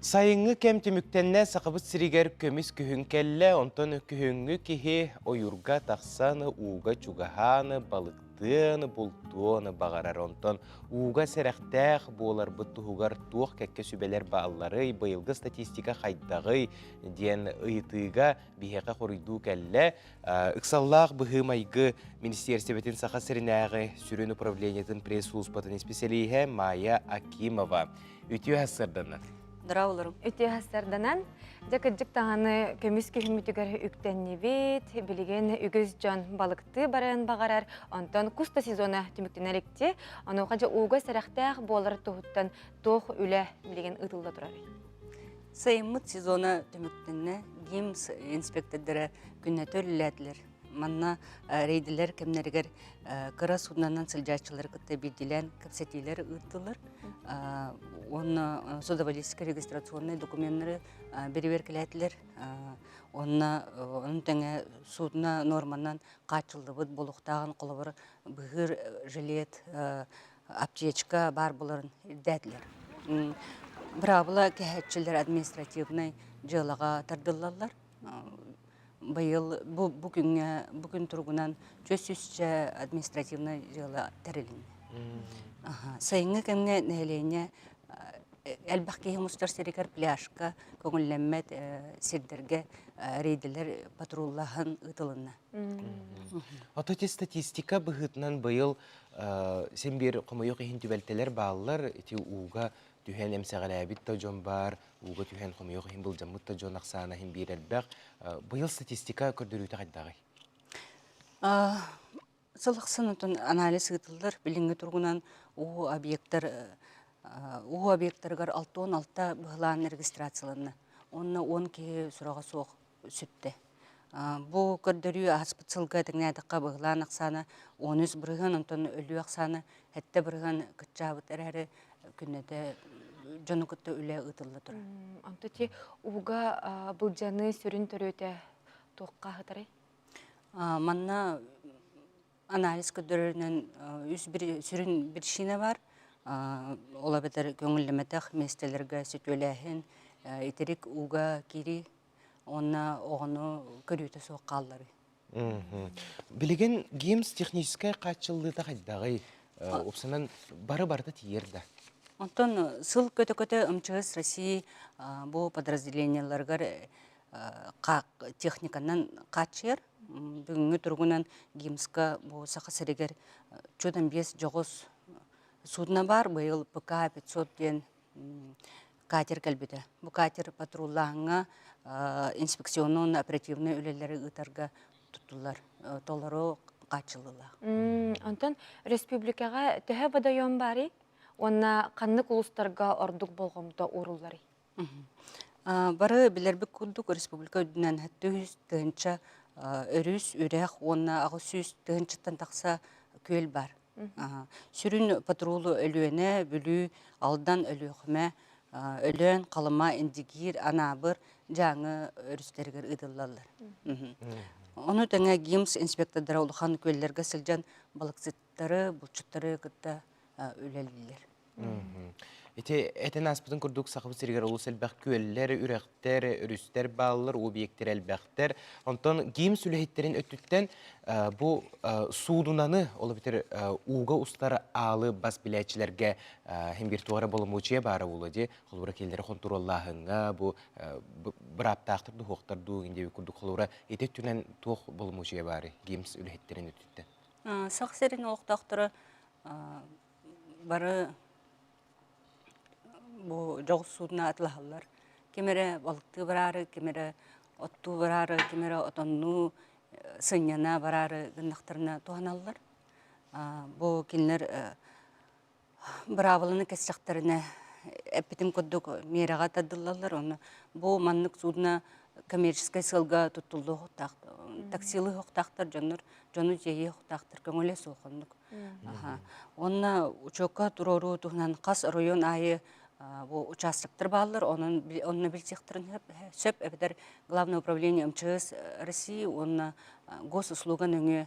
Сайыҥҥы кэм түмүктэннэ Сахабыт сиригэр көмүс күһүн кэллэ, онтон күһүҥҥү киһи ойуурга тахсан ууга чугаһаан, балыктыан, бултуон баҕарар. Онтон ууга сэрэхтээх буоларбыт туһугар туох кэккэ сүбэлэр баалларый, быйылгы статистика хайдаҕый диэн ыйытыыга биһиэхэ хоруйдуу кэллэ. Э, ыксаллаах быһыы-майгы министиэрсийбэтин Саха сиринээҕи сүрүн управлениетын пресс-сулууспатын исписэлииһэ Майя Акимова. Үтүө сырданан. Дора олорум. Үтүө сырданан. Дьэ кырдьык даҕаны көмүс күһүммүтүгэр үктэннибит. Билигин үгүс дьон балыктыы барыан баҕарар. Онтон кус да сезона түмүктэнэр икти. Онуоха дьэ ууга сэрэхтээх буолар туһуттан туох үлэ билигин ыытылла турар. Сайыммыт сезона түмүктэннэ. ГИМС инспектордара күннэтэ үлэлээтилэр. Манна рейдэлэр кэмнэригэр кыра суднанан сылдьааччылары кытта биирдиилээн кэпсэтиилэр ыыттылар уонна судоводительскай регистрационнай докуменнары бэрэбиэркэлээтилэр уонна ону тэҥэ судно нуорманан хааччыллыбыт буолуохтааҕын холобур быһыыр жилет аптечка баар буоларын ирдээтилэр быраабыла кэһээччилэр административнай дьыалаҕа тардыллаллар быйыл бу бу күҥҥэ бу күн туругунан түөрт сүүсчэ административнай дьыала тэрилиннэ. Сайыҥҥы кэмҥэ нэһилиэнньэ элбэх киһи мустар сиригэр пляжка көҥүллэммэт сирдэргэ рейдэлэр патруллааһын ыытылынна. Ото те статистика быһыытынан быйыл син биир хомойуох иһин түбэлтэлэр бааллар. Ити ууга түһэн эмсэҕэлээбит да дьон баар, ууга түһэн хомойуох иһин былдьаммыт да дьон ахсаана иһин биир элбэх. Быйыл статистика көрдөрүүтэ хайдааҕый? Сыл ахсын отон анализ ыытыллар билиҥҥи туругунан уу объектар уу объектарыгар алты уон алта быһылаан регистрацияланна. Уонна он киһи сураҕа суох сүптэ. Бу көрдөрүү ааспыт сылга тэҥнээтэххэ быһылаан ахсаана он үс бырыһыан, онтон өлүү ахсаана сэттэ бырыһыан кыччаабыт эрээри күннэтэ дьону кытта үлэ ыытылла турар. Онту ити ууга былдьаныы сүрүн төрүөтэ туохха аһатарай? Манна анализ көрдөрөрүнэн үс бир сүрүн причина бар ол эбэтэр көңүллэмэтэх миэстэлэргэ сөтүөлээһин итирик ууга кири уонна оҕону көрүүтэ суох хаалларыы билигин гимс техническэй хааччыллыыта хайдаҕый упсанан бары барыта тиийэр да онтон сыл көтө-көтө ымчыгыс россии бу подразделениеларыгар техниканан хааччыйар бүгүҥҥү туругунан гимска бу саха сиригэр отчуотан биэс дьоҕус судно баар быйыл пк пятьсот диэн катер кэлбитэ бу катер патруллааһыҥҥа инспекционнай уонна оперативнай үлэлэри ыытарга туттулар толору хааччыллылар онтон республикаҕа төһө бодойуон баарый уонна ханнык улуустарга ордук болҕомто уурулларый Бары билэрбит курдук республика үрдүнэн сүүс тыһыынча өрүс, үрэх уонна аҕыс сүүс тыһыынчаттан тахса күөл бар. Сүрүн патрулу Өлүөнэ, Бүлүү, Алдан, Өлүөхүмэ, Өлөөн, Халыма, Индигиир, Анаабыр, Дьааҥы өрүстэригэр ыытыллаллар. Ону тэҥэ ГИМС инспектордара улахан күөллэргэ сылдьан балыксыттар булчуттары булчуттары кытта үлэлииллэр. Ити этин ааспытын курдук Сахабыт сиригэр олус элбэх күөллэр, үрэхтэр, өрүстэр бааллар, объектир элбэхтэр. Онтон гимс үлэһиттэрин өттүттэн бу суудунаны, ол бүтэр ууга устар аалы бас билээччилэргэ химгиртуара боломуочуя баара буолуо дии. Холура келлери хонтуруоллааһыҥҥа бу бырааптаахтар духуохтар дуу, индиэби курдук холура ити өттүнэн туох боломуочуя баары гимс үлэһиттэрин өттүттэн? Сах сирин олохтоохторо бары бу дьоҕурсуурuna атылаһаллар. Ким эрэ балыктыы бараары, ким эрэ оттуу бараары, ким эрэ отоннуу сынньана бараары гыннахтарына туһаналлар. Бу кинилэр быраабыланы кэссэхтэринэ эппитим курдук миэрэҕэ тардыллаллар уонна бу маннык судно коммерческай сыалга туттуллуохтаах таксилы оһохтоохтор дьоннор дьону тиэйиэ оһохтоохтор көҥүлэ суох оннук уонна учуокка туруоруу туһунан хас оройуон аайы бу участоктар бааллар онон онно билсиэхтэрин сөп эбэтэр главное управление мчс россии уонна госуслуга нөҥүө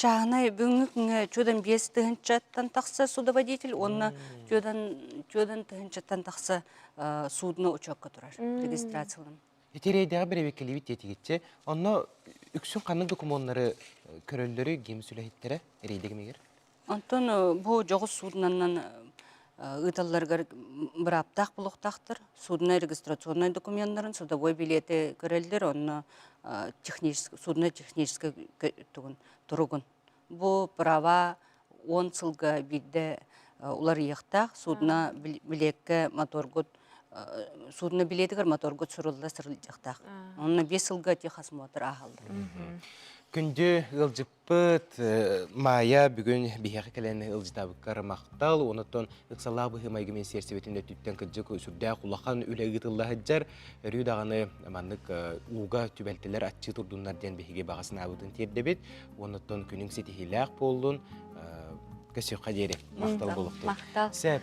чааһынай бүгүҥҥү күҥҥэ биэс тыһыынчаттан тахса судоводитель уонна түөдан түөдан тыһыынчаттан тахса судно учуокка турар регистрацияланан Ити рейдэҕэ бэрэбиэркэлиибит диэтигитчэ, онно үксүн ханнык докумуоннары көрөллөрүй гимс үлэһиттэрэ рейдэ кэмигэр? Онтон бу дьоҕус суудунаннан ыыталларыгар бырааптаах булуохтаахтар. Судно регистрационнай докуменнарын, судовой билети көрөллөр, онно технический, судно-технический туругун. Бу права он сылга биирдэ уларыйыахтаах. Судно билетке моторгут судно билетигэр моторгут сурулла сырылдьыахтаах. Онно биэс сылга техосмотр ааһаллар. Күндү ыалдьыт Пыт, э, Маайа бүгүн биһиэхэ кэлэн ылдьытабыккар махтал. Онтон ыксалаах быһыы-майгы министиэрсийбитин өттүттэн кырдьык сүрдээх улахан үлэ ыытылла сылдьар. Өрүү даҕаны маннык э, ууга түбэлтэлэр аччыы турдуннар диэн биһиги баҕа санаабытын тиэрдэбит. Онтон күнүҥ ситиһиилээх буоллун. Э, Көссүөххэ диэри махтал Мм, болуктур. махтал. Сөп.